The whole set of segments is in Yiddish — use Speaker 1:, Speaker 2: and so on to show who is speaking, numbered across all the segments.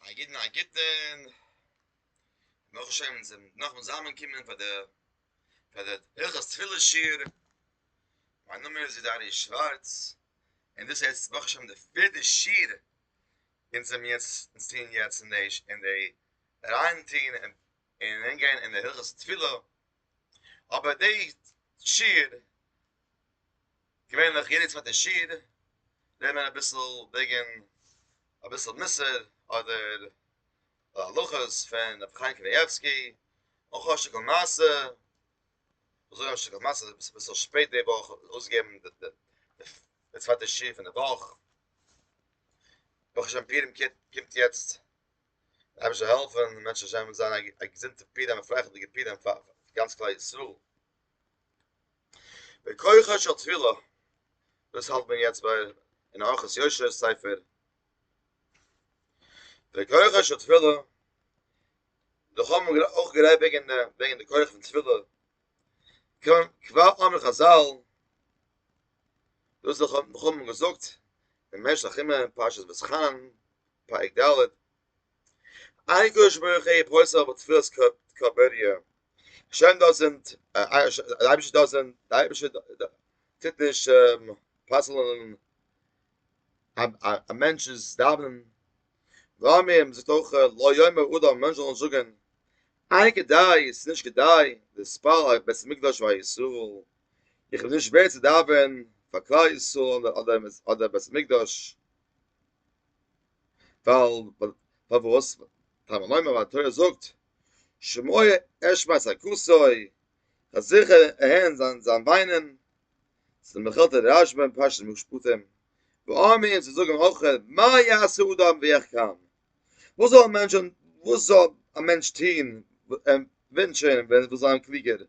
Speaker 1: א יעדן א גוטן, נאך שוין זיך נאכן זאמען קומען פאר די פאר די הלכות תפילה שיעור, מיין נאמען איז איז ארי' שווארץ, און דאס איז ברוך השם די פערטע שיעור אונז האבן יעצט אונז טוען יעצט אין די אין די אריין טוהן און און אריין גיין אין די הלכות תפילה, אבער די שיעור געווענליך יעדע צווייטע שיעור רעדט מען אביסל וועגן אביסל מוסר אדער הלכות פון רבי חיים קנייבסקי אויך א שטיקל מעשה, אזוי א שטיקל מעשה איז אביסל שפעט די וואך אויסגעבן די צווייטע שיעור פון די וואך, ברוך השם פורים קומט יעצט, דער אייבערשטער זאל העלפן בעזהשי ת מען זאל האבן א געזונטע פורים א פרייליכע פורים פאר גאנץ כלל ישראל. בכוחה של תפילה, דאס האלט מען יעצט ביי אין אורחות יושר'ס ספר, בכוחה של תפילה, דאך האבן מיר אויך גערעדט וועגן די וועגן די כח פון תפילה, קוים כבר אמר חזל, דאס האבן מיר געזאגט אין משך ימי פרשת ואתחנן פרק ד', איי קדוש ברוך הוא פויסער אויף תפילת קאבוריא, השם דאזענט, די אייבערשטער דאזענט, די אייבערשטער טוט נישט פסל'ן א מענטש'ס דאווענען, ואמרים זאגט אויך לא יאמר אדם, א מענטש זאל נישט זאגען, איי כדאי, עס איז נישט כדאי, להתפלל על בית המקדש ועל ישראל, איך בין נישט ווערד צו דאווען פאר כלל ישראל אדער בית המקדש. ווייל פארוואס טעם נאמר וואס די תורה זאגט שמוע אשמת הכוסוי אז זיכער הערן זיין זיין וויינען צו מחיל ת רש ב אין פרשת משפטים ואמין צו זאגן אויך מה יעשה אדם ויחכם וואס זאל א מענטש וואס זאל א מענטש טוהן און ווינטשען ווען ער וויל זיין קלוגער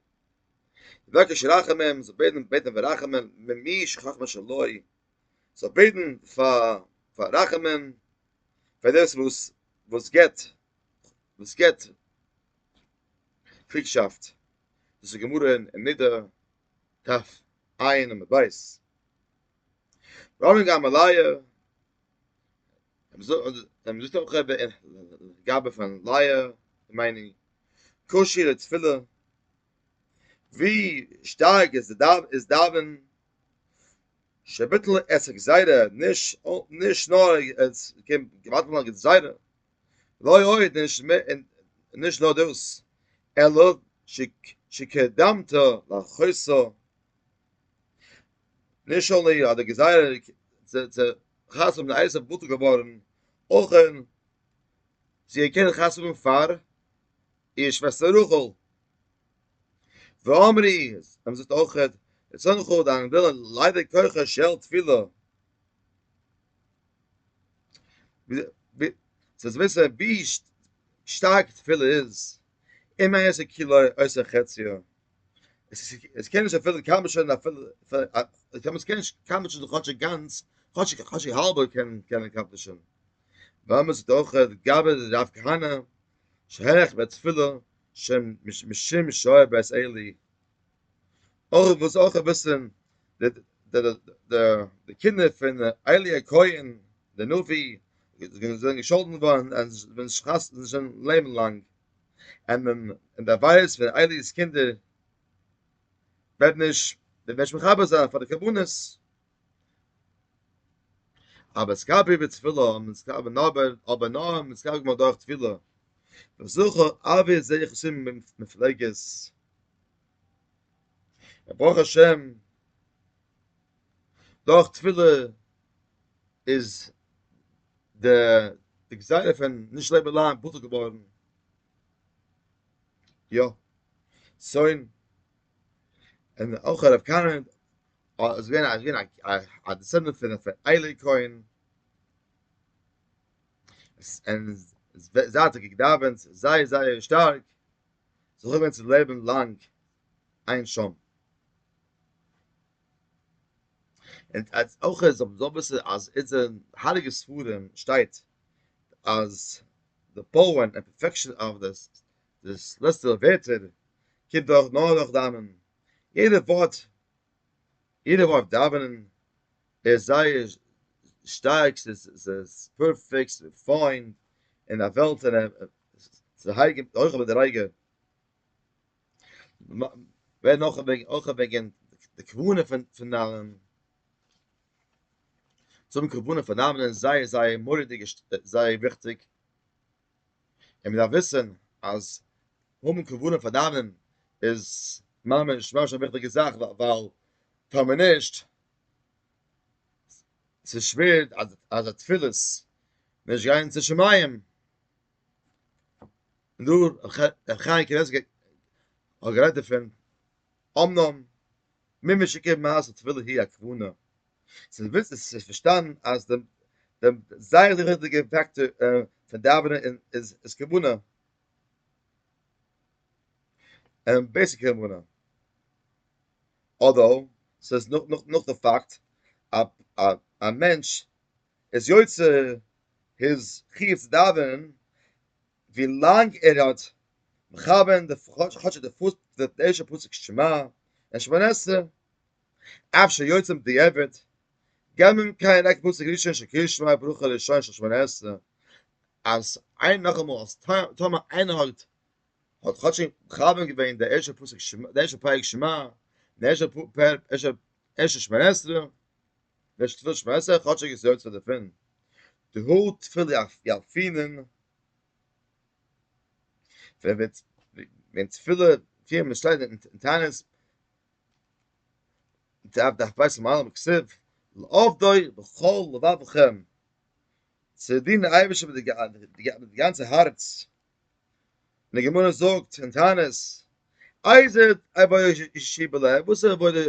Speaker 1: יבקש רחמים זאל בעטן בעטן פאר רחמים ממי שחכמה שלא זאל בעטן פאר רחמים פאר דאס וואס וואס געבט וואס געבט קריגשאפט דאס איז גמרא אין נידה תרפ ע אין עמוד ב' רבן גמליאל ער זאגט אויך גאבע פון לייע מיינען קושיא לתפילה ווי שטארק איז דאווען שבטל עסק זיידע נישט נישט נאר עס קען געוואלד ווערן א גזירה לוי אויך נישט מער און נישט נאר דאס אלא שקדמת לחוסר נישט אנלי אז די גזירה צו חתונה מיט א אייסער בטל געווארן אויך זי קען חתונה פאר איר שוועסטער רחל. ואמרי, זיי האבן געזאגט אויך, רצונך דיין ווילן, ליידער כוחה של תפילה. זיי וויסן ווי שטארק תפילה איז, אין מה יעשה כולו עושה חציו. עס קען נישט ערפילן כמה שוין אפילו, עס קען נישט כמה שוין כאטשיג גאנץ, כאטשיג האלב קען ער אקאמפלישן. ואמר זאגט אויך, גבה רב כהנא, שרייך מיט תפילה שם משום שעה בעת עלי אויך וואס אויך וויסן די די די די קינדער פון עלי הכהן די נביא זיי זענען געשאלדן געווארן אז ווען שחת זיי זאלן לעבן לאנג און מען און די ווייס פון עלי'ס קינדער וועט נישט וועט נישט מחבר זיין פאר די קרבנות אבער סקאב איבער תפילה און סקאב און אבער אבער נאר און סקאב גמור דורך תפילה וזוכר אבי זע איך עס אין מפלגת ברוך השם דורך תפילה איז דער די גזירה פון נישט לעבן לאנג בטל געווארן יא שוין און אויך הרב קארן אז ווען אז ווען א דעסענדענט פון פון איילי קוין און זייט איך געדאווענט זייער זייער שטארק זאל איך ווען צו לעבן לאנג אין שם און אז אויך אז אבער זאל וויסן אז איז די הייליגע ספרים שטייט אז די פאוער און פערפעקשאן אויף דער דאס לעצטע ווערטער קומט דאך נאר דורך דאווענען, יעדע ווארט, יעדע ווארט דאווענען איז זייער שטארק, ס'איז פערפעקט, ס'איז פיין, אין א וועלט פון הרג'ענען אויך אבער די רגע, ווער נאך וועגן אויך וועגן די כוונה פון דאווענען, צום כוונה פון דאווענען זייער זייער מורא'דיג זייער וויכטיג. און מ'דארף וויסן אז האבן כוונה פאר דאווענען איז ממש ממש א וויכטיגע זאך, ווייל טאר מען נישט, ס'איז שווער אז די תפילות נישט גייען צו שמים, דא ר' חיים קנייבסקי האט גערעדט דערפון, אמנם מי משכיב מעשה תפילה היא הכוונה, זיי וויסן עס איז פארשטאנען אז דעם דעם זייער וויכטיגע פאקטאר פון דאווענען איז איז כוונה און בעיסיק כוונה אדער ס'איז נאך נאך נאך די פאקט א א א מענטש איז יוצא היז חיוב צו דאווענען ווי לאנג ער האט מכוון די כאטש די פוס די ערשטע פסוק שמע און שמונה עשרה אפשר יוצא בדיעבד, געממ קיין ענק פסוק ראשון של קריאת שמע ברכה ראשון של שמונה עשרה, אז איין נאכאמאל אז טאמער איינער האט האט כאטש מכוון געווען די ערשטע פסוק שמע די ערשטע פרק שמע די ערשטע פרק ערשטע שמונה עשרה די ערשטע תפילת שמונה עשרה כאטש ער איז יוצא דערפון די האר תפלה יאלפינען ווען ווען תפלה פיר מ'שטייט אין תענית און צו אב ד הפייסט פון מהר ם כסב לעובדוי בכל לבבכם צו דינען די אייבערשטער מיט די גאנצע הארץ און די גמרא זאגט אין תענית איזה עבודה איזשי בלב וואס איז עבודה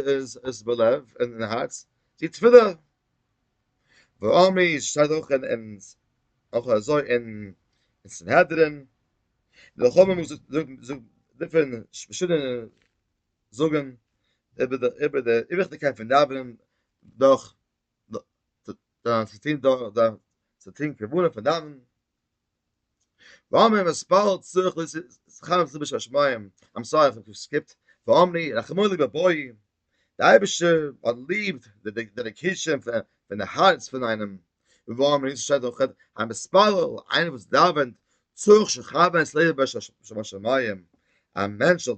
Speaker 1: איז בלב אין הארץ די תפילה ואמרי שטייט אויך אין אויך אזוי אין סנהדרין די חמ מ זאגט דערפון פארשידענע זאגן איבער די איבער די וויכטיגקייט פון דאווענען דורך דורך צו טון דורך דורך צו טון כוונה פון דאווענען וואמען מספר צורך ליס סכם זיבע שש מים איים סארי איך האב סקיפט וואמני רחמולי בבואי די אייבערשטער האט ליב די דעדיקעישאן פון די הארץ פון איינעם וואו מיר נישט שייט אויך א מספר איינער וואס דאווענט צורך שכב את לב באש שבשמים א מענטש זאל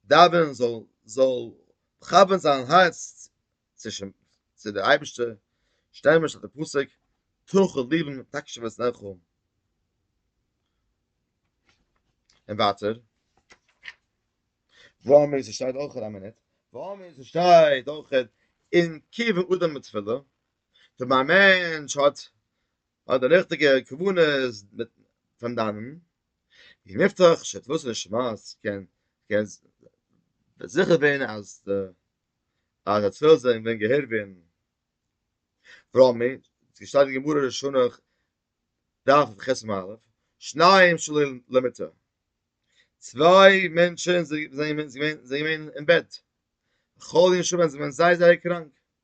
Speaker 1: דאווענען זאל זאל מכוון זיין הארץ צו צו די אייבערשטער שטעל מיר שטאט די פסוק תוך לבן תקשב את נערכו און ווייטער וואו מיר שייט אויך א מינוט וואו מיר שייט אויך אין קיווע אדם מיט תפילה ווען א מענטש האט האט די ריכטיגע כוונות פון דאווענען, ווי נפתח שתלת נשמת, קען קען זיכער ווערן אז די אז די תפילות זענען געווען געהערט ווערן, רמי, ווי ס'שטייט אין גמרא ראשונה דף ח א, שניים שלא למיטה, צוויי מענטשן זענען געווען אין בעט, חולים שובען זענען זייער זייער קראנק.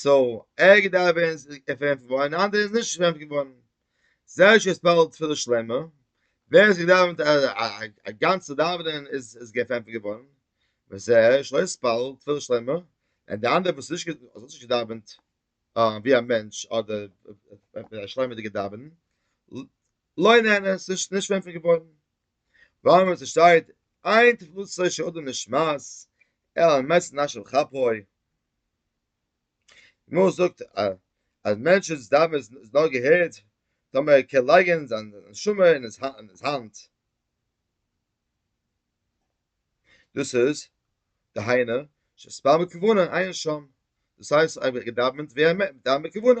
Speaker 1: סאו ער געדארפט ווערן ערפענט געווארן און אנדערע איז נישט ערפענט געווארן. זייער שווער ספעלט תפילה שלמה, ווער עס געדאווענט א גאנצע דאווענען איז עס געפענט געווארן, וזער שלא ספעלט תפילה שלמה, און די אנדערע וואס נישט האט נישט געדאווענט ווי א מענטש אדער מיט א שלמה'דיגע דאווענען, לא נהנה, ס'איז נישט ערפענט געווארן. ווארום ווי עס שטייט, איין תפלתו של אדם נשמעת, ער האמת נשב כפו. די גמרא זאגט אז מענטש'ס דבר איז נאר געהערט טאמער ער קען לייגען זיין נשמה אין היז האנט. דאס איז, דהיינו, שספר מכוונה עיין שם, דאס הייסט אויב ער האט געדאווענט ווי ער מיינט מיט דאווען בכוונה,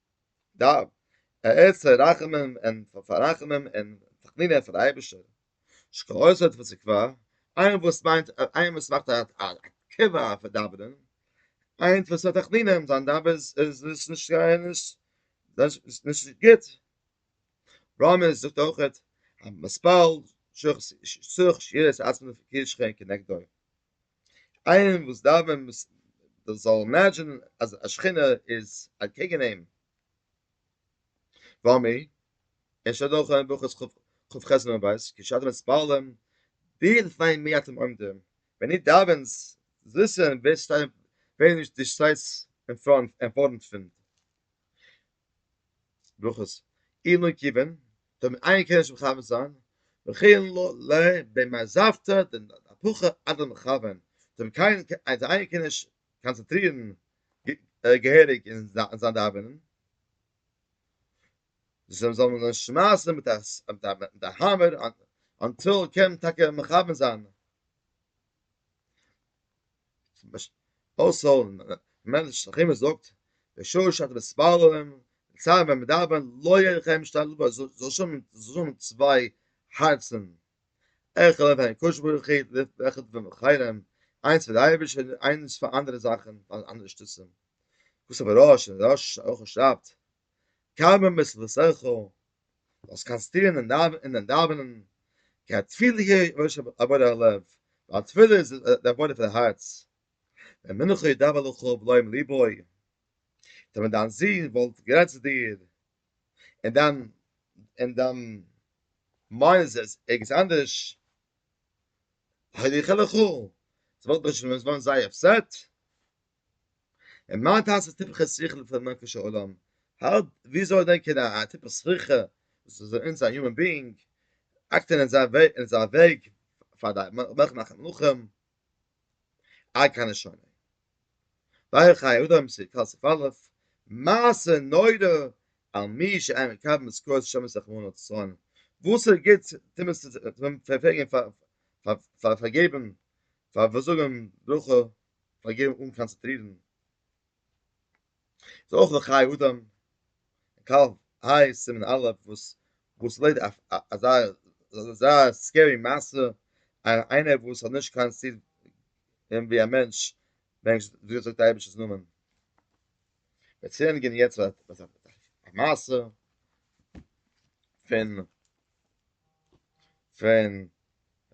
Speaker 1: דארף ער ערשט רחמים און פאררחמים און תחנונים פאר די אייבערשטער, שכעוסת וסקווה, איין וואס מיינט איין וואס מאכט א תקווה אויף דאווענען, איינס וואס האט תחנונים זיין דאווענען איז נישט גוט, רמז זאגט אויכעט אז מ'פאלט שוך שירת עצמו כישכון כנגדו. איינער וואס דארף ווען מ'ס דאס זאל אימעדזשענען אז א שכינה איז אקעגן אים, וואו מיר עס שטייט אויך אין ברכות כ ח עמוד ב' כי שאתם מתפללים דיר פאר מי אתם עומדים, ווען איר דאווענטס זאלסט וויסן ווער שטייט ווער נישט די שטייטס אין פארנט פון. ברכות אין און קיווען טאמער איינער קען נישט מכוון זיין וכן לא ל ב מעזבתא דנפחא אדער מכוון טאמער קיינער קען אז איינער קען נישט קאנצעטרירן געהעריג אין זיין דאווענען זאל זאל מען נישט שמייסן מיט א האמער אנטיל קען מען טאקע מכוון זיין אויסער ווען שכימע זאגט בשעה שאתם מתפללים צייט ווען מען דאווענט לא יהיה לכם שתי לבבות זאל שוין זאל צוויי הארצן עכ פ פאר הקדוש ברוך הוא ועכ פ פאר די חיילים איינס פאר די אייבערשטער און איינס פאר אנדערע זאכן פאר אנדערע שטותים וואס אבער ר' אשר שרייבט קיים את לבשרך, זאלסט קאנסטרירן אין דיין דאווענען, כי התפילה היא ראש עבודת הלב, ווייל תפילה איז די עבודה פון הארץ, ווען מנך ידבר לך ולא עם לבו, טא ווען דיין זון וואלט גערעדט צו דיר, און דיין און דיין מיינד איז ערגעץ אנדערש, הלך לך, זי וואלט נישט געווען זייער אפסעט. און מיינט אז די טיפעכע שכל פון מענטליכע עולם האלט וויאזוי דענקען א טיפע שריפה וואס איז אין אונז א יומען ביאינג אקט אין אזא וועג פאר די מח מאכן מלאכים עד כאן איז שוין ווייל חיי אדם סי קאל סי פאלף מעשה נורא על מי שאין מקבל משכורת שמים רחמנא לצלן וואס איז גוט טו מען פאר פארגעבן פאר פאר זאגן ברכה פארגעבן אן קאנצעטרירן איז אויך די חיי אדם קו ע' סימן א' וואס וואס לויט אזא אזא סקערי מעשה איינער וואס האט נישט קיין סיד אין ווי א מענטש מענטש ווי זאגט די אייבישטער'ס נאמען וועט צענדיגן יעצט א מעשה פון פון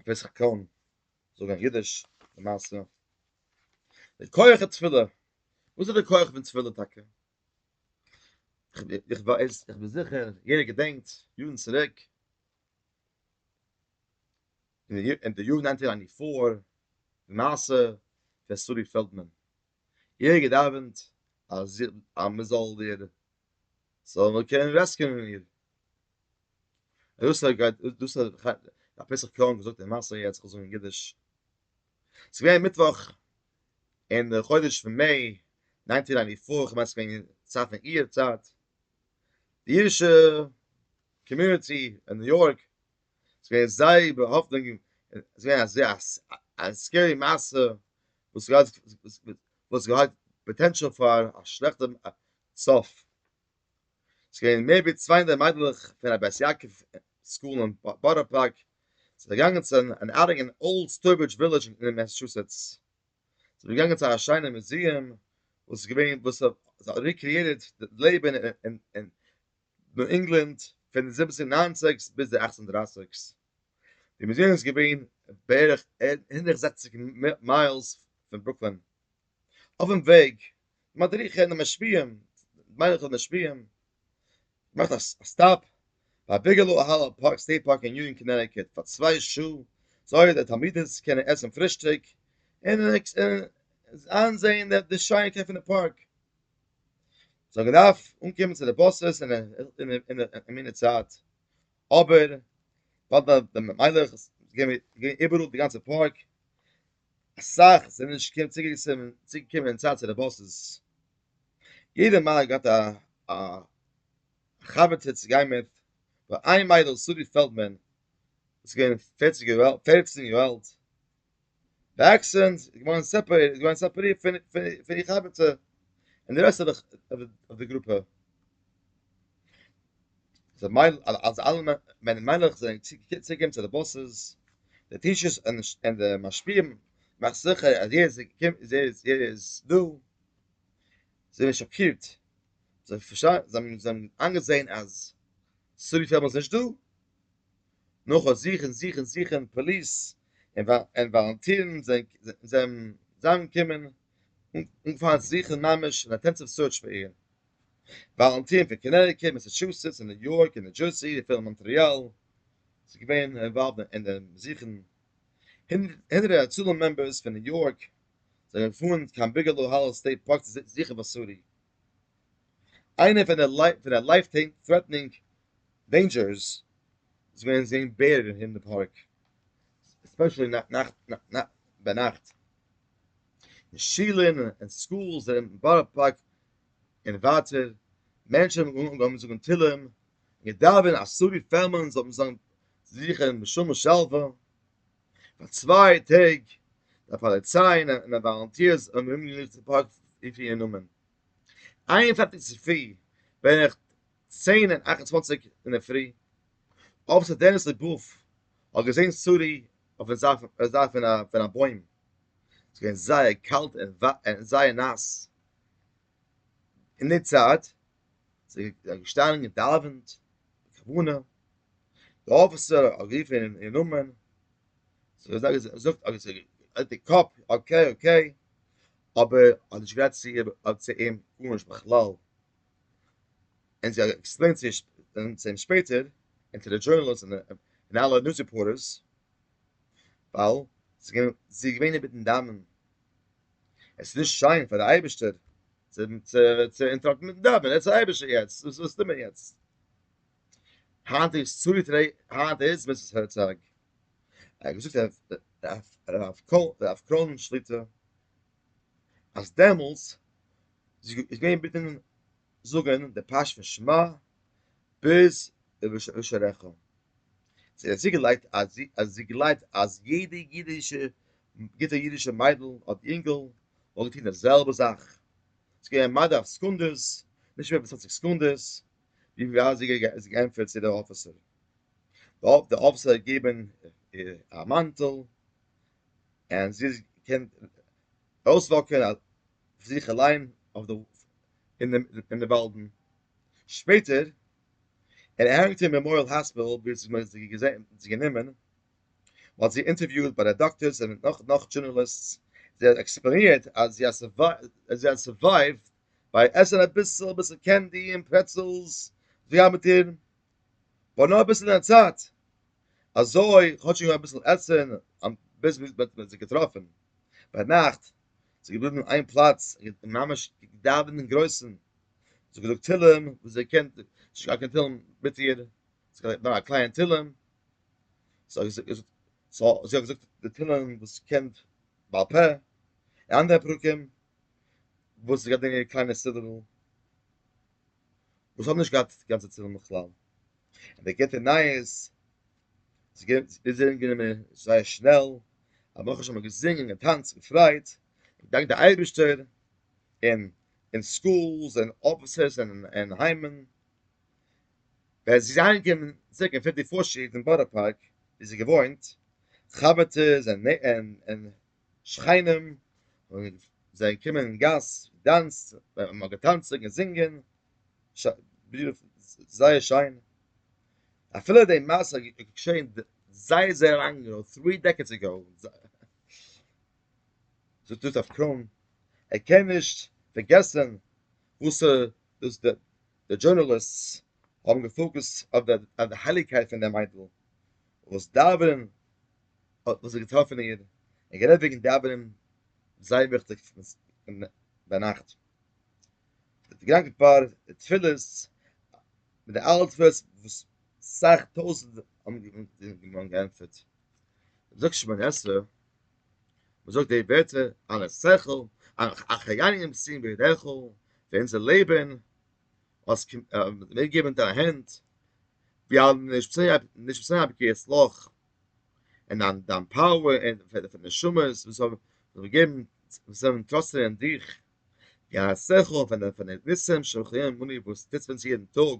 Speaker 1: פסח קאהן זאג א חידוש די מעשה די כח התפילה וואס איז די כח פון תפילה טאקע איך ווייס איך בין זיכער יעדער געדענקט יארן צוריק אין די יארן נײַנצן הונדערט פֿיר די מעשה פון סורי פעלדמאן יעדער געדאווענט אז אז מען זאל דיר זאל מיר קענען רעסקיוען איר. דאס גייט דאס א פסח קראנק געזאגט אין מאסע יעצט איך זאג אין אידיש. ס'איז געווען מיטוואך אין די חודש פון מעי ניינטין נייענטי פאר איך מיין ס'איז געווען צייט פון איר צייט די אידישע קאמיוניטי אין ניו יארק איז געווען זייער באהאפטונג ס'איז געווען אזוי א סקערי מעשה וואס געהאט פאטענטשעל פאר א שלעכטע סוף. ס'איז געווען מער ווי צוויי הונדערט מיידלעך פון א בית יעקב סקול אין בארא פארק זענען געגאנגען צו אן אאוטינג אין אולד סטויברידזש ווילעדזש אין מעסעטשוסעטס. זיי זענען געגאנגען צו א שיינע מוזיעם וואס איז געווען וואס האט ריקריעטעד די לעבן אין ניו ענגלאנד פון די זיבעצן ניינציגס ביז די אכצן דרייסיגס. די מוזיעם איז געווען בערך הונדערט זעכציג מיילס פון ברוקלין. אויפן וועג, די מדריכים און די משפיעים, די מיינער און משפיעים, געמאכט א סטאפ ביי ביגעלאו אהעל פארק סטעיט פארק אין יוניאן קאנעטיקוט פאר צוויי שעה, זאל די תלמידות קענען עסן פרישטאג און איינזעהן די שיינקייט פון די פארק. זיי האבן געדארפט אנקומען צו די באסעס אין מינוט צייט, אבער ווייל די מיינער האט געווען איבעראל די גאנצע פארק, אסאך זענען נישט געקענט צוגעקומען אין צייט צו די באסעס, יעדער מיידל געהאט א חבר'טע צו גיין מיט, נאר איין מיידל שרי פעלדמאן וואס איז געווען פערציג יאר אלט, פערצן יאר אלט, וואקסען איז געווארן סעפערעיטעד, געווארן סעפערירט פון איר חבר'טע, און די רעסט אויף די גרופע. זיי מיינען אז אלע מענער מיינעך זענען צוגעקומען צו די באסעס, די טיטשערס און די משפיעים, מאכסט זיכער אז יעדער איז דא, זיי זענען שאקירט, זיי האבן איינגעזען אז סארי פעלמאן איז נישטא, נאכן זוכן זוכן זוכן פאליס און וואלונטירן זענען זיי אנגעקומען און אנגעפאנגען זוכן ממש אינטענסיוו סוירטש פאר איהם. וואלונטירן פון קאנעטיקעט, מעסעטשוסעטס און ניו יארק און ניו דזשערסי, און פון מאנטריאל, איז געווען אינוואלווד אין דעם זוכן. הונדערטער הצלה מעמבערס פון ניו יארק זענען געפארן קיין ביגעלאו האלל סטעיט פארק צו זוכן וואסארי, איינע פון די לייף טרעטענינג דעינדזשערס איז געווען זען בער אין די פארק, עספעשעלי ביינאכט. און שולן און סקולס אין בארא פארק און ווייטער, מענטשן האבן אנגעהויבן צו זאגן תהילים און געדאווענט אז סארי פערמאן זאל זיין זיכער בשלום ושלווה, פאר צוויי טעג די פאליציי און וואלונטירס האבן אומגענוג צופאקט אין פיר נאמען, איין און פֿערציק צופרי בערך צען און אַכט און צוואַנציק אינדערפרי, אפעצער דעניס לעבאוו האט געזען סארי אויפן זייט פון א בוים, ס'איז געווען זייער קאלט און זייער נאס, אין די צייט זיי געשטאנען געדאווענט כוונה די אפיסער האט גערופן איר נאמען זי האט געזאגט אז זי האט די קאפ אקעי אקעי אבער האט נישט גערעדט צו איר צו אים גארנישט בכלל און זי האט עקספלעינט צו אים שפעטער און צו די דזשורנאליסט און אלע ניוז ריפארטערס ווייל זי איז געווען אינמיטן דאווענען עס איז נישט שיין פאר די אייבערשטער צו צו אינטראקטן מיטן דאווענען, עס איז א אייבערשטער יעצט, וואס וואס טוט מען יעצט? היינט איז צוריט רעי, היינט איז מיסטער הערצאג. ער האט געזאגט רב רב קול רב קרן שליט א אז דעמאלטס איז געווען ביטן זאגן די פשט פון שמע ביז ובשעריך זי האט צוגעלייגט אז זי גלייבט אז יעדע אידישע, גוטע אידישע מיידל אדער אינגל וואלט געטון די זעלבע זאך, ס'איז געווען מדה אויף סעקונדעס, נישט מער ווי צוואנציג סעקונדעס, ווי ווייט זי האט געענטפערט צו די אפיסער. די אפיסער האט געגעבן איר א מאנטל, און זי האט געקענט אויסוואקן אויף זיך אליין אין די וואלדן. שפעטער און ער הענגט אין מעמאריעל האספיטאל ווי עס איז זי גענומען, מען האט זי אינטערוויוט ביי די דאקטארס און נאך נאך דזשורנאליסטס, זי האט עקספלעינירט אז זי האט סורווייווט ביי עסן אביסל אביסל קענדי און פרעצעלס זי גייט מיט איר בה נאר אביסל אין א צייט אזוי כאטש זי האט געהאט אביסל עסן ביז מען האט זי געטראפן ביינאכט, זי איז געבליבן אין איין פלאץ און ממש געדאווענט אינגרויסן. זי האט געזאגט תהלים וואס זי קען נישט געהאט קיין תהלים מיט איר, זי האט געלערנט נאר א קליין תהלים, סא זי האט געזאגט די תהלים וואס זי קען בעל פה, און אנדערע פרקים וואס זי גייט ברענגען קליינע סידור'ל, וואס האבן נישט געהאט די גאנצע תהלים בכלל, און די גוטע נייעס, זי האט זיך גענומען זייער שנעל, א ברוך השם געזינגען, געטאנצט, געפריידט, געדאנקט די אייבערשטער, און אין סקולס און אפיסעס און אין היימען, ווען זי איז אהיימגעקומען צוריק אין פיפטי פארסט סטריט אין בארא פארק ווי זי געוואוינט, חבר'טעס און שכנים זענען געקומען אין גאס געדאנסט, מען האט געטאנצן און געזינגען, זייער שיין, אפילו די מעשה איז געשעהן זייער זייער לאנג אגאו, טרי דעקעדס אגאו. זאגט דאס אויף קראון ער קען נישט פארגעסען וואס דאס די דזשורנאליסטס האבן געפאוקעסט אויף די הייליגקייט פון די מיידל וואס דארווין האט וואס האט געטראפן איר און גערעדט וועגן דארווין זייער וויכטיג ביינאכט מיט די גראנקע פאר די תפילות מיט די אלע תפילות וואס סאך טויזענט האבן געענטפערט זאגט שמעון עשרה מ'זאגט די ווערטער אן א שכל, א חיינים סיום בידיך, פאר אונזער לעבן האסט מיר געגעבן אין דיין הענט, ווי א נשמה'לע בקיעת לח, און דיין פאוער און פאר די נשמות וואס האבן געגעבן, וואס האבן געטראסטען אין דיך, ווי א שכל פון די ניסים שמחיים אנו וואס טוט אונז יעדן טאג